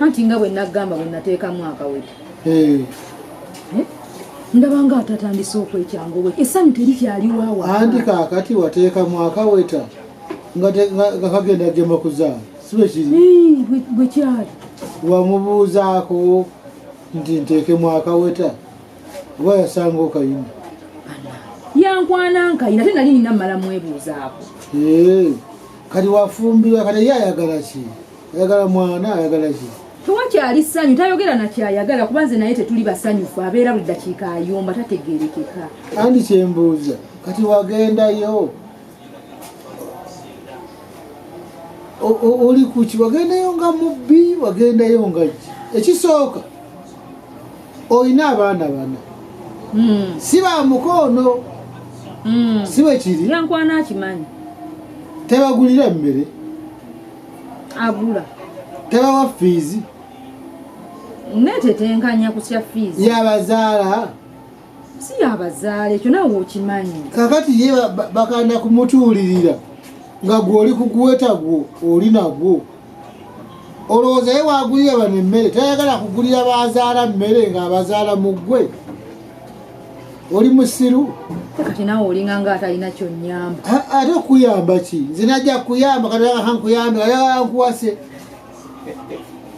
anti nga bwe nagamba bwe nateekamu akaweta eh. eh? ndaba nga atatandise okwekyanga we essanyu teri kyaliwawa anti kaakati wateekamu akaweta nga kagenda gema kuzaala sibekiri bwe kyali wamubuuzaako nti nteekemu akaweta oba yasanga okayina yankwana nkayina ate nali nina mala mwebuuzaako kati wafumbirwa kati ye ayagala ki ayagala mwana ayagala ki tewakyali ssanyu tayogera nakyayagala kuba nze naye tetuli basanyufu abeera buli dakiika ayomba tategerekeka andi kyembuuza kati wagendayo oli kuki wagendayo nga mubbi wagendayo nga ki ekisooka olina abaana bana hmm. si ba mukoono hmm. si bwekiri yankwana akimanyi tebagulira emmere abula tebawa fiizi netetenkanya kutya fiizi yabazaala si yabazaala ekyo nawe okimanyi kakati ye bakanda kumutuulirira nga gwe oli kuguweta gwo oli nagwo olowooza ye wagulira bano emmere tayagala kugulira bazaala mmere ng'abazaala mu ggwe oli musiru kati nawe olinga nga atalina kyonyamba ate okuyamba ki nze najja kuyamba kataankuyambe ayankuwase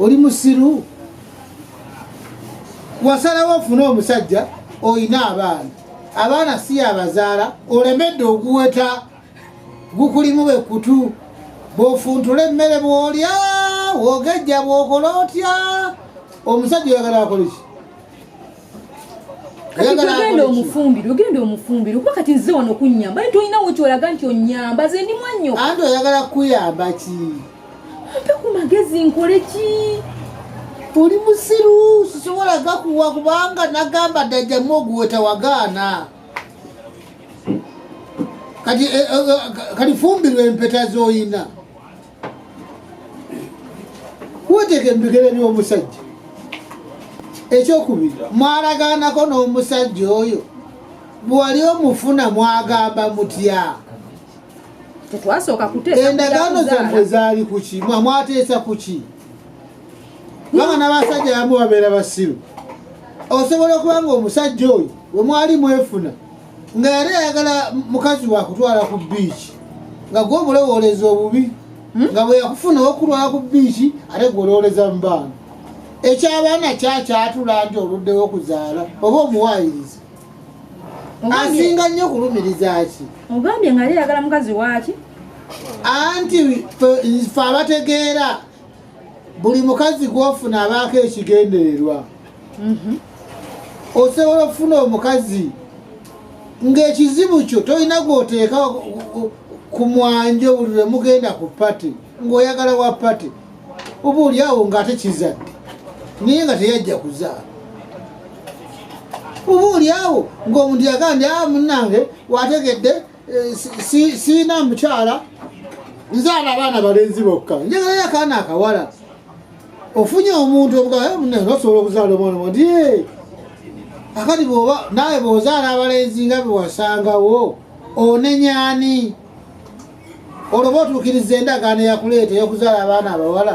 oli musiru wasalawo ofune omusajja olina abaana abaana si yabazaala olemedde oguweta gukulimu bekutu bwofuntula emmere bwolya wogejja bwokola otya omusajja oyagala akoleki genda omufumbire ogenda omufumbire kuba kati nze wano kunyamba naye tolinawo kyolaga nti onyamba ze ndi mwanyoko anti oyagala kuyamba ki mpe ku magezi nkole ki oli musiru sisobola gakuwa kubanga nagamba dajjamu oguweta wagaana kati eh, eh, eh, kati fumbirwa empeta zoyina woteka ebigere by'omusajja ekyokubiri mwalagaanako n'omusajja oyo bwewali omufuna mwagamba mutya endagaano zammwe zaali kuki mwamwateesa kuki banga n'abasajja yamu babeera basiru osobola okuba nga omusajja oyo wemwali mwefuna nga yali ayagala mukazi wakutwala ku biiki nga gwe obulowoleza obubi hmm? nga bweyakufuna okulwala ku biiki ate gwe olowoleza mu baana ekyabaana kyakyatula nti oluddewo okuzaala oba omuwaayiriza asinga nnyo okulumiriza ki ogambye nga yali ayagala mukazi waaki anti fe abategeera buli mukazi gwofuna abaako ekigendererwa mhm. osobola okufuna omukazi ng'ekizibu kyo tolina gwoteeka ku mwanjo buli lwe mugenda ku pati ng'oyagala wa pati oba oli awo ng'ate kizadde naye nga teyajja kuzaala oba oli awo ng'omuntu yagamba ndi a ah, munnange wategedde Eh, siina mukyala nzaala abaana balenzi bokka njagalayo akaana akawala ofunye omuntu obugaosobola eh, okuzaala omwana wadi eh, akati bwoba nawe bwozaala abalenzi nga bewasangawo onenyani olwoba otuukiriza endagaano eyakuleeta eyokuzaala abaana abawala